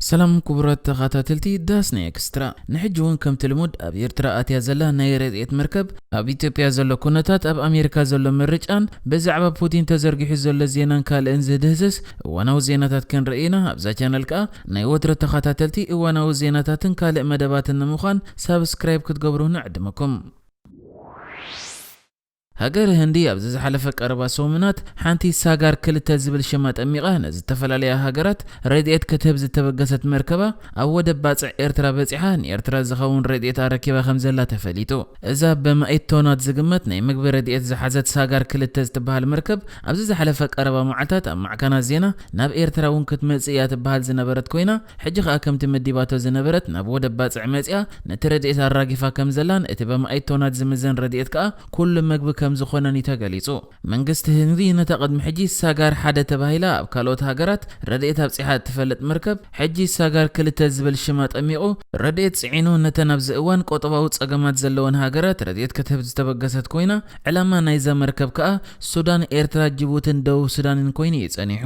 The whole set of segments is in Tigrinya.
ሰላም ኩቡራት ተኻታተልቲ ዳስ ናይ ኤክስትራ ንሕጂ ውን ከምቲ ልሙድ ኣብ ኤርትራ ኣትያ ዘላ ናይ ረድኤት መርከብ ኣብ ኢትዮጵያ ዘሎ ኩነታት ኣብ ኣሜሪካ ዘሎ ምርጫን ብዛዕባ ፑቲን ተዘርጊሑ ዘሎ ዜናን ካልእን ዝድህስስ እዋናዊ ዜናታት ክንርኢ ኢና ኣብዛ ቻነል ከኣ ናይ ወትረ ተኻታተልቲ እዋናዊ ዜናታትን ካልእ መደባትን ንምዃን ሳብስክራይብ ክትገብሩ ንዕድመኩም ሃገረ ህንዲ ኣብዚ ዝሓለፈ ቀረባ ሰሙናት ሓንቲ ሳጋር ክልተ ዝብል ሽም ኣጠሚቓ ንዝተፈላለያ ሃገራት ረድኤት ክትህብ ዝተበገሰት መርከባ ኣብ ወደብ ባጽዕ ኤርትራ በጺሓ ንኤርትራ ዝኸውን ረድኤት ኣረኪባ ከምዘላ ተፈሊጡ። እዛ ብማኢት ቶናት ዝግመት ናይ ምግቢ ረድኤት ዝሓዘት ሳጋር ክልተ ዝትበሃል መርከብ ኣብዚ ዝሓለፈ ቀረባ መዓልታት ኣብ ማዕከናት ዜና ናብ ኤርትራ እውን ክትመጽእ እያ ትበሃል ዝነበረት ኮይና ሕጂ ከኣ ከምቲ መዲባቶ ዝነበረት ናብ ወደብ ባጽዕ መጺኣ ነቲ ረድኤት ኣራጊፋ ከም ዘላን እቲ በመኣይት ቶናት ዝምዘን ረድኤት ከኣ ኩሉ መግቢ ከም ዝኾነን እዩ ተገሊጹ። መንግስቲ ህንዲ ነታ ቅድሚ ሕጂ ሳጋር ሓደ ተባሂላ ኣብ ካልኦት ሃገራት ረድኤት ኣብጺሓ እትፈልጥ መርከብ ሕጂ ሳጋር ክልተ ዝብል ሽም ኣጠሚቑ፣ ረድኤት ጽዒኑ ነተን ኣብዚ እዋን ቆጠባዊ ጸገማት ዘለወን ሃገራት ረድኤት ክትህብ ዝተበገሰት ኮይና፣ ዕላማ ናይዛ መርከብ ከኣ ሱዳን፣ ኤርትራ፣ ጅቡትን ደቡብ ሱዳንን ኮይኑ እዩ ጸኒሑ።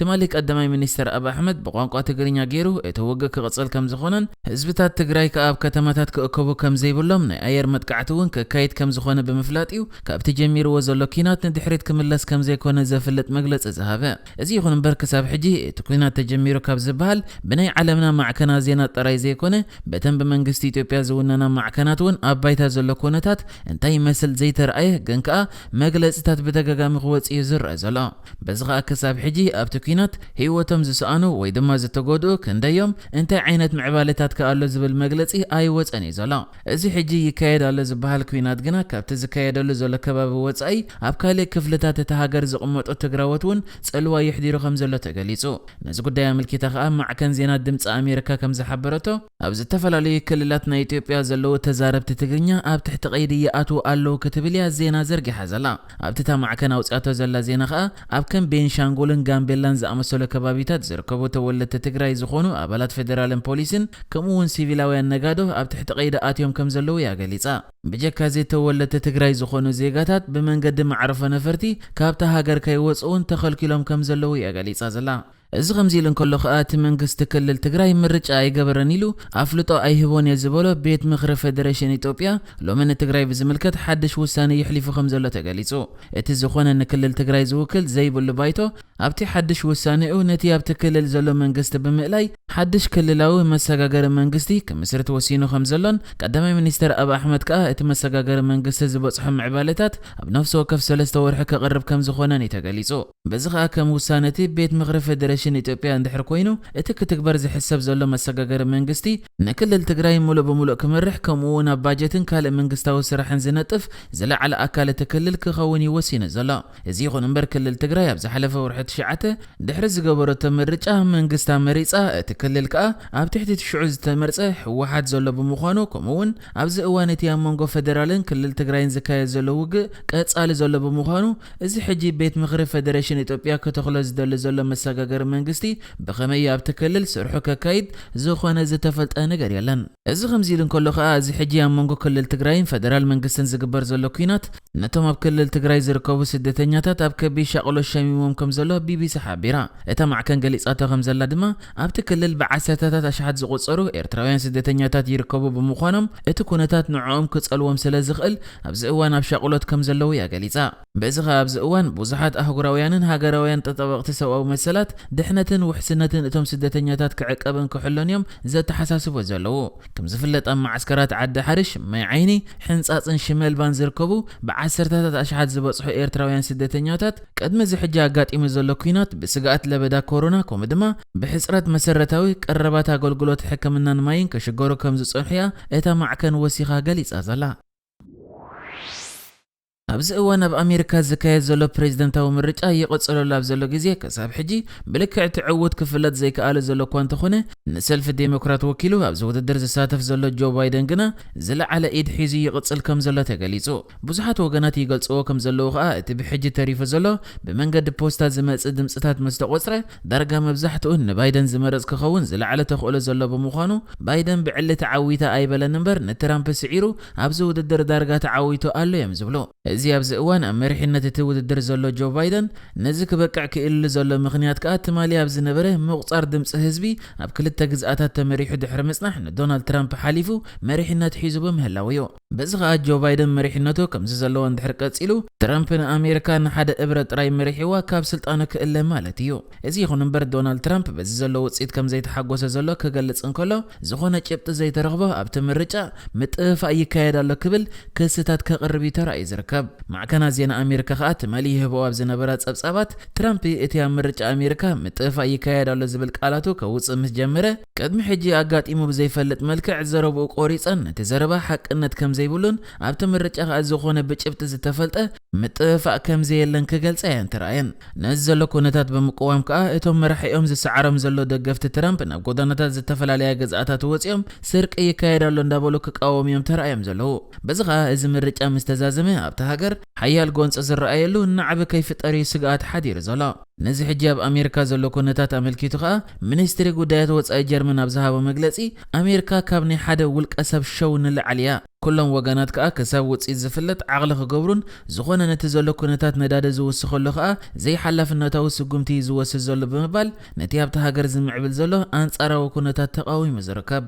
ትማሊ ቀዳማይ ሚኒስተር ኣብ ኣሕመድ ብቋንቋ ትግርኛ ገይሩ እቲ ውግእ ክቕጽል ከምዝኾነን ህዝብታት ትግራይ ከኣ ኣብ ከተማታት ክእከቡ ከምዘይብሎም ናይ ኣየር መጥቃዕቲ እውን ከካይድ ከምዝኾነ ብምፍላጥ እዩ ካብቲ ጀሚርዎ ዘሎ ኲናት ንድሕሪት ክምለስ ከምዘይኮነ ዘፍልጥ መግለጺ ዝሃበ። እዚ ይኹን እምበር ክሳብ ሕጂ እቲ ኲናት ተጀሚሩ ካብ ዝበሃል ብናይ ዓለምና ማዕከናት ዜና ጥራይ ዘይኮነ በተን ብመንግስቲ ኢትዮጵያ ዝውነና ማዕከናት እውን ኣብ ባይታ ዘሎ ኩነታት እንታይ ይመስል ዘይተርኣየ ግን ከኣ መግለጺታት ብተጋጋሚ ክወጽእ እዩ ዝረኣ ዘሎ። በዚ ኸኣ ክሳብ ሕጂ ኣብቲ ኲናት ህይወቶም ዝሰኣኑ ወይ ድማ ዝተጎድኡ ክንደይ'ዮም፣ እንታይ ዓይነት ምዕባለታት ከ ኣሎ ዝብል መግለጺ ኣይወጸን እዩ ዘሎ። እዚ ሕጂ ይካየድ ኣሎ ዝበሃል ኲናት ግና ካብቲ ዝካየደሉ ዘሎ ከባቢ ወጻኢ ኣብ ካልእ ክፍልታት እታ ሃገር ዝቕመጡ ትግራዎት እውን ጽልዋ የሕዲሩ ከም ዘሎ ተገሊጹ። ነዚ ጉዳይ ኣመልኪታ ኸኣ ማዕከን ዜና ድምጺ ኣሜሪካ ከም ዝሓበረቶ፣ ኣብ ዝተፈላለዩ ክልላት ናይ ኢትዮጵያ ዘለዉ ተዛረብቲ ትግርኛ ኣብ ትሕቲ ቀይዲ ይኣትዉ ኣለዉ ክትብል እያ ዜና ዘርጊሓ ዘላ። ኣብቲ እታ ማዕከን ኣውጺኣቶ ዘላ ዜና ከኣ ኣብ ከም ቤንሻንጉልን ጋምቤላን ዝኣመሰሉ ከባቢታት ዝርከቡ ተወለድቲ ትግራይ ዝኾኑ ኣባላት ፌደራልን ፖሊስን ከምኡ እውን ሲቪላውያን ነጋዶ ኣብ ትሕቲ ቀይዲ ኣትዮም ከም ዘለዉ እያ ገሊጻ። ብጀካ እዚ ተወለድቲ ትግራይ ዝኾኑ ዜጋታት ብመንገዲ መዕርፎ ነፈርቲ ካብታ ሃገር ከይወጽኡ'ውን ተኸልኪሎም ከም ዘለዉ እያ ገሊጻ ዘላ። እዚ ከምዚ ኢሉ እንከሎ ከኣ እቲ መንግስቲ ክልል ትግራይ ምርጫ ኣይገበረን ኢሉ ኣፍልጦ ኣይህቦን እየ ዝበሎ ቤት ምኽሪ ፌደሬሽን ኢትዮጵያ ሎሚ ንትግራይ ብዝምልከት ሓድሽ ውሳነ የሕሊፉ ከምዘሎ ተገሊጹ። እቲ ዝኾነ ንክልል ትግራይ ዝውክል ዘይብሉ ባይቶ ኣብቲ ሓድሽ ውሳኔኡ ነቲ ኣብቲ ክልል ዘሎ መንግስቲ ብምእላይ ሓድሽ ክልላዊ መሰጋገሪ መንግስቲ ክምስርት ወሲኑ ከምዘሎን ቀዳማይ ሚኒስተር ኣብ ኣሕመድ ከኣ እቲ መሰጋገሪ መንግስቲ ዝበጽሖ ምዕባለታት ኣብ ነፍሲ ወከፍ ሰለስተ ወርሒ ከቕርብ ከምዝኾነን እዩ ተገሊጹ። በዚ ከኣ ከም ውሳነ'ቲ ቤት ምኽሪ ፌደሬሽን ኢትዮጵያ እንድሕር ኮይኑ እቲ ክትግበር ዝሕሰብ ዘሎ መሰጋገሪ መንግስቲ ንክልል ትግራይ ምሉእ ብምሉእ ክመርሕ ከምኡ'ውን ኣብ ባጀትን ካልእ መንግስታዊ ስራሕን ዝነጥፍ ዝለዓለ ኣካል እቲ ክልል ክኸውን እዩ ወሲኑ ዘሎ። እዚ ይኹን እምበር ክልል ትግራይ ኣብ ዝሓለፈ ወርሒ ትሽዓተ ድሕሪ ዝገበረቶ ምርጫ መንግስታ መሪጻ እቲ ክልል ከኣ ኣብ ትሕቲ እቲ ሽዑ ዝተመርጸ ህወሓት ዘሎ ብምዃኑ ከምኡ'ውን ኣብዚ እዋን እቲ ኣብ መንጎ ፌደራልን ክልል ትግራይን ዝካየድ ዘሎ ውግእ ቀፃሊ ዘሎ ብምዃኑ እዚ ሕጂ ቤት ምኽሪ ፌደሬሽን ኢትዮጵያ ክተኽሎ ዝደሊ ዘሎ መሰጋገሪ መንግስቲ ብኸመይ እዩ ኣብቲ ክልል ስርሑ ከካይድ ዝኾነ ዝተፈልጠ ነገር የለን። እዚ ከምዚ ኢሉ እንከሎ ከኣ እዚ ሕጂ ኣብ መንጎ ክልል ትግራይን ፌደራል መንግስትን ዝግበር ዘሎ ኲናት ነቶም ኣብ ክልል ትግራይ ዝርከቡ ስደተኛታት ኣብ ከቢድ ሻቕሎት ሸሚሞም ከምዘሎ ቢቢሲ ሓቢራ። እታ ማዕከን ገሊፃቶ ከምዘላ ድማ ኣብቲ ክልል ብዓሰርተታት ኣሽሓት ዝቑጸሩ ኤርትራውያን ስደተኛታት ይርከቡ ብምዃኖም፣ እቲ ኩነታት ንዕኦም ክጸልዎም ስለ ዝኽእል ኣብዚ እዋን ኣብ ሻቕሎት ከም ዘለዉ እያ ገሊጻ። በዚ ከኣ ኣብዚ እዋን ብዙሓት ኣህጉራውያንን ሃገራውያን ጠጠበቕቲ ሰብኣዊ መሰላት፣ ድሕነትን ውሕስነትን እቶም ስደተኛታት ክዕቀብን ክሕሎን እዮም ዘተሓሳስቦ ዘለዉ። ከም ዝፍለጥ ኣብ መዓስከራት ዓዲ ሓርሽ፣ ማይ ዓይኒ፣ ሕንጻጽን ሽመልባን ዝርከቡ ብዓሰርተታት ኣሽሓት ዝበጽሑ ኤርትራውያን ስደተኛታት፣ ቅድሚ እዚ ሕጂ ኣጋጢሙ ዘሎ ኲናት ብስግኣት ለበዳ ኮሮና ከምኡ ድማ ብሕጽረት መሰረታዊ ቀረባት ኣገልግሎት ሕክምናን ማይን ክሽገሩ ከም ዝጸንሑ'ያ እታ ማዕከን ወሲኻ ገሊጻ ዘላ። ኣብዚ እዋን ኣብ ኣሜሪካ ዝካየድ ዘሎ ፕረዚደንታዊ ምርጫ ይቕጽለሉ ኣብ ዘሎ ግዜ ክሳብ ሕጂ ብልክዕ እቲ ዕዉት ክፍለጥ ዘይክኣለ ዘሎ እኳ እንተኾነ ንሰልፊ ዴሞክራት ወኪሉ ኣብዚ ውድድር ዝሳተፍ ዘሎ ጆ ባይደን ግና ዝለዓለ ኢድ ሒዙ ይቕጽል ከም ዘሎ ተገሊጹ። ብዙሓት ወገናት ይገልጽዎ ከም ዘለዉ ከኣ እቲ ብሕጂ ተሪፉ ዘሎ ብመንገዲ ፖስታ ዝመጽእ ድምጽታት ምስ ተቖጽረ ዳርጋ መብዛሕትኡ ንባይደን ዝመርጽ ክኸውን ዝለዓለ ተኽእሎ ዘሎ ብምዃኑ ባይደን ብዕሊ ተዓዊተ ኣይበለን እምበር ንትራምፕ ስዒሩ ኣብዚ ውድድር ዳርጋ ተዓዊቱ ኣሎ እዮም ዝብሉ። እዚ ኣብዚ እዋን ኣብ መሪሕነት እቲ ውድድር ዘሎ ጆ ባይደን ነዚ ክበቅዕ ክኢልሉ ዘሎ ምኽንያት ከኣ ትማሊ ኣብ ዝነበረ ምቑጻር ድምጺ ህዝቢ ኣብ ክልተ ግዝኣታት ተመሪሑ ድሕሪ ምጽናሕ ንዶናልድ ትራምፕ ሓሊፉ መሪሕነት ሒዙ ብምህላዉ እዩ። በዚ ከኣ ጆ ባይደን መሪሕነቱ ከምዚ ዘለዎ እንድሕር ቀጺሉ ትራምፕ ንኣሜሪካ ንሓደ እብረ ጥራይ መሪሒዋ ካብ ስልጣኑ ክእለ ማለት እዩ። እዚ ይኹን እምበር ዶናልድ ትራምፕ በዚ ዘሎ ውጽኢት ከምዘይተሓጎሰ ዘሎ ክገልጽ እንከሎ ዝኾነ ጭብጢ ዘይተረኽቦ ኣብቲ ምርጫ ምጥፍፋእ ይካየድ ኣሎ ክብል ክስታት ከቕርብ እዩ ተራእዩ ዝርከብ። ማዕከናት ዜና ኣሜሪካ ከኣ ትማሊ ይህብኦ ኣብ ዝነበራ ጸብጻባት ትራምፕ እቲ ኣብ ምርጫ ኣሜሪካ ምጥፍፋእ ይካየድ ኣሎ ዝብል ቃላቱ ከውጽእ ምስ ጀመረ ቅድሚ ሕጂ ኣጋጢሙ ብዘይፈልጥ መልክዕ ዘረብኡ ቆሪጸን እቲ ዘረባ ሓቅነት ከምዘይብሉን ኣብቲ ምርጫ ከኣ ዝኾነ ብጭብጢ ዝተፈልጠ ምጥፍፋእ ከምዘየለን ክገልጻ እየን ተራእየን። ነዚ ዘሎ ኩነታት ብምቅዋም ከኣ እቶም መራሒኦም ዝሰዓሮም ዘሎ ደገፍቲ ትራምፕ ናብ ጎዳናታት ዝተፈላለያ ግዝኣታት ወጺኦም ስርቂ ይካየድ ኣሎ እንዳበሉ ክቃወሙ እዮም ተራእዮም ዘለዉ። በዚ ከኣ እዚ ምርጫ ምስተዛዘመ ኣብታ ሃገር ሓያል ጎንጺ ዝረኣየሉ ናዕቢ ከይፍጠር እዩ ስግኣት ሓዲሩ ዘሎ። ነዚ ሕጂ ኣብ ኣሜሪካ ዘሎ ኩነታት ኣመልኪቱ ከኣ ሚኒስትሪ ጉዳያት ወጻኢ ጀርመን ኣብ ዝሃቦ መግለጺ፣ ኣሜሪካ ካብ ናይ ሓደ ውልቀሰብ ሸው ንላዕሊ እያ፣ ኩሎም ወገናት ከኣ ክሳብ ውጽኢት ዝፍለጥ ዓቕሊ ክገብሩን ዝኾነ ነቲ ዘሎ ኩነታት ነዳዲ ዝውስኸሉ ከኣ ዘይሓላፍነታዊ ስጉምቲ እዩ ዝወስድ ዘሎ ብምባል ነቲ ኣብታ ሃገር ዝምዕብል ዘሎ ኣንጻራዊ ኩነታት ተቓዊሙ ዝርከብ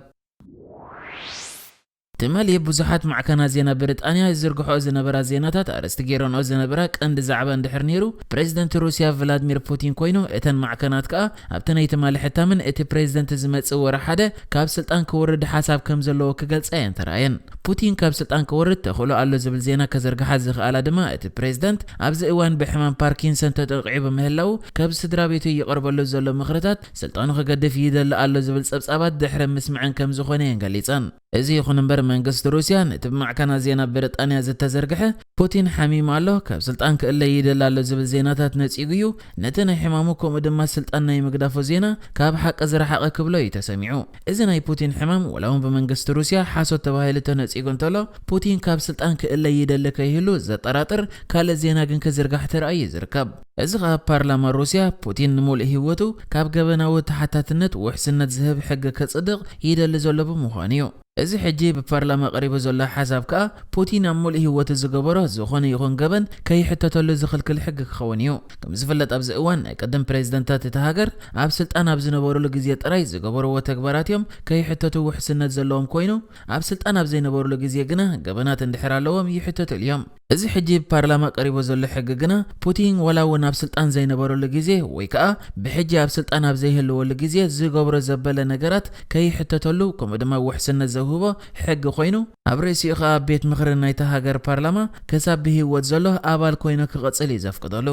ትማሊ ብዙሓት ማዕከናት ዜና ብሪጣንያ ይዝርግሕኦ ዝነበራ ዜናታት ኣርእስቲ ገይረንኦ ዝነበራ ቀንዲ ዛዕባ እንድሕር ነይሩ ፕረዚደንት ሩስያ ቭላድሚር ፑቲን ኮይኑ እተን ማዕከናት ከኣ ኣብቲ ናይ ትማሊ ሕታመን እቲ ፕረዚደንት ዝመጽእ ወርሒ ሓደ ካብ ስልጣን ክወርድ ሓሳብ ከም ዘለዎ ክገልጻ እየን ተራእየን። ፑቲን ካብ ስልጣን ክወርድ ተኽእሎ ኣሎ ዝብል ዜና ከዘርግሓ ዝኸኣላ ድማ እቲ ፕረዚደንት ኣብዚ እዋን ብሕማም ፓርኪንሰን ተጠቒዑ ብምህላዉ ካብ ስድራቤቱ ይቐርበሉ ዘሎ ምኽርታት ስልጣኑ ክገድፍ ይደሊ ኣሎ ዝብል ጸብጻባት ድሕሪ ምስመዐን ከም ዝኾነ'የን ገሊጸን። እዚ ይኹን እምበር መንግስቲ ሩስያ ነቲ ብማዕከናት ዜና ብሪጣንያ ዝተዘርግሐ ፑቲን ሓሚሙ ኣሎ፣ ካብ ስልጣን ክእለ ይደሊ ኣሎ ዝብል ዜናታት ነጺጉ'ዩ ነቲ ናይ ሕማሙ ከምኡ ድማ ስልጣን ናይ ምግዳፉ ዜና ካብ ሓቂ ዝረሓቐ ክብሎ'ዩ ተሰሚዑ። እዚ ናይ ፑቲን ሕማም ዋላ'ውን ብመንግስቲ ሩስያ ሓሶት ተባሂሉ ተነጺጉ እንተሎ ፑቲን ካብ ስልጣን ክእለ ይደሊ ከይህሉ ዘጠራጥር ካልእ ዜና ግን ክዝርጋሕ ተራእዩ'ዩ ዝርከብ። እዚ ከኣ ፓርላማ ሩስያ ፑቲን ንምሉእ ሂወቱ ካብ ገበናዊ ተሓታትነት ውሕስነት ዝህብ ሕጊ ከጽድቕ ይደሊ ዘሎ ብምዃኑ እዩ። እዚ ሕጂ ብፓርላማ ቀሪቡ ዘሎ ሓሳብ ከኣ ፑቲን ኣብ ምሉእ ሂወቱ ዝገበሮ ዝኾነ ይኹን ገበን ከይሕተተሉ ዝኽልክል ሕጊ ክኸውን እዩ። ከምዝፍለጥ ኣብዚ እዋን ናይ ቅድም ፕሬዝደንታት እታ ሃገር ኣብ ስልጣን ኣብ ዝነበሩሉ ግዜ ጥራይ ዝገበርዎ ተግባራት እዮም ከይሕተቱ ውሕስነት ዘለዎም ኮይኑ ኣብ ስልጣን ኣብ ዘይነበሩሉ ግዜ ግና ገበናት እንድሕር ኣለዎም ይሕተትሉ እዮም። እዚ ሕጂ ብፓርላማ ቀሪቡ ዘሎ ሕጊ ግና ፑቲን ዋላ እውን ኣብ ስልጣን ዘይነበረሉ ግዜ ወይ ከኣ ብሕጂ ኣብ ስልጣን ኣብ ዘይህልወሉ ግዜ ዝገብሮ ዘበለ ነገራት ከይሕተተሉ ከምኡ ድማ ውሕስነት ዘውህቦ ሕጊ ኮይኑ ኣብ ርእሲኡ ከኣ ቤት ምኽሪ ናይታ ሃገር ፓርላማ ክሳብ ብህይወት ዘሎ ኣባል ኮይኑ ክቕጽል እዩ ዘፍቅደሉ።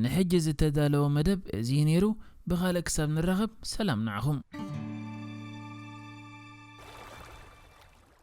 ንሕጂ ዝተዳለወ መደብ እዚ እዩ ነይሩ። ብኻልእ ክሳብ ንራኸብ ሰላም ንዓኹም።